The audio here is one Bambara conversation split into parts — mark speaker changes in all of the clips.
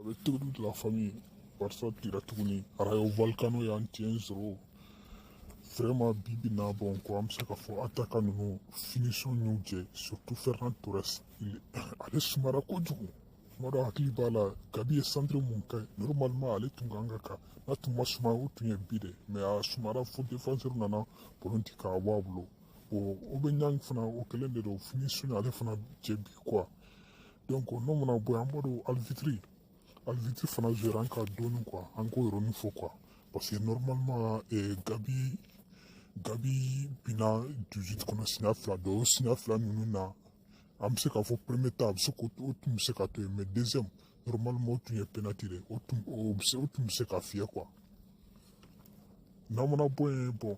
Speaker 1: Avec toute la famille barça tira tuguni rayo vallecano y'an tiɲɛ sɔrɔ vraiment bi bi na bon quoi an bɛ se k'a fɔ attaquant ninnu finition y'u jɛ surtout ferran torres ale sumara kojugu tuma dɔ hakili b'a la gavi ye centre mun kɛ normalement ale tun kan ka ka n'a tun ma suma o tun ye bi dɛ mais a sumara fo défenseur nana ballon ti k'a bɔ a bolo aubameyang fana o kɛlen de don finition ale fana jɛ bi quoi donc n'o mana bɔ yen an b'a dɔn arbitre arbitre fana jouera an kan dɔɔni quoi an k'o yɔrɔnin fɔ quoi parce que normalement eh, gavi gavi bina 18 kɔnɔ siɲɛ fila donc o siɲɛ fila ninnu na an bɛ se k'a fɔ premier ta a bɛ se k'o o tun bɛ se ka to yen mais deuxième normalement o tun ye penalty de o tun o bɛ se o tun bɛ se ka fiyɛ quoi n'an mana bɔ yen bon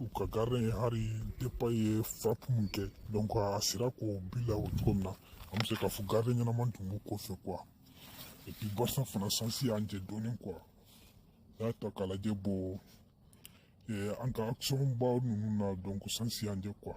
Speaker 1: u ka gardien ye hali depay ye frappe mun kɛ donc a sera k'o bila o cogo min na an bɛ se k'a fɔ gardien ɲɛnaman tun b'u kɔfɛ quoi et puis barça fana sansi y'an jɛ dɔɔnin quoi n'a y'a ta k'a lajɛ bon an ka action baw ninnu na donc sansi y'an jɛ quoi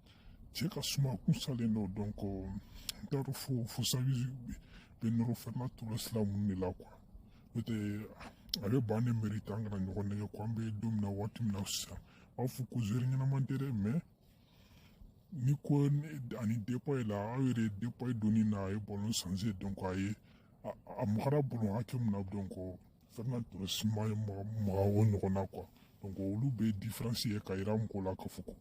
Speaker 1: cɛ ka suma kun salen don donc n t'a dɔn fo fo xavi bɛ nɔrɔ ferran torres la mun de la quoi n'o tɛ a bɛ banc ne mériter an kana ɲɔgɔn nɛgɛn quoi an bɛ don min na waati min na sisan a fɔ ko joueur ɲɛnama tɛ dɛ mais ni ko ani depay la aw yɛrɛ depay donni na a ye ballon changer donc a ye a magara ballon hakɛ min na donc ferran torres ma maga o ɲɔgɔn na quoi donc olu bɛ différence ye ka yira mɔgɔ la k'a fɔ ko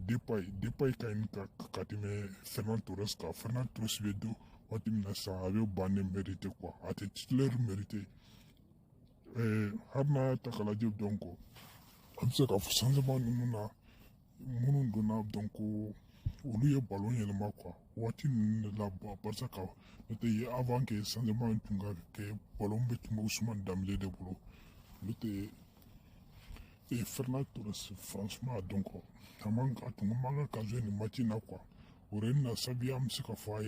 Speaker 1: depay depay ka ɲi ka ka tɛmɛ ferran torres kan ferran torres bɛ don waati min na sisan a bɛ banc ne mériter quoi a tɛ titulaire mériter hali n'a y'a ta k'a lajɛ donc an bɛ se k'a fɔ changement ninnu na minnu donna donc olu ye ballon yɛlɛma quoi waati ninnu de la barça ka n'o tɛ ye avant que changement in tun ka kɛ ballon bɛɛ tun bɛ ousmane dembélé de bolo n'o tɛ e ferran torres franchement a donc a man a tun man kan ka ka jouer nin match in na quoi o yɔrɔ in na xavi an bɛ se k'a fɔ a ye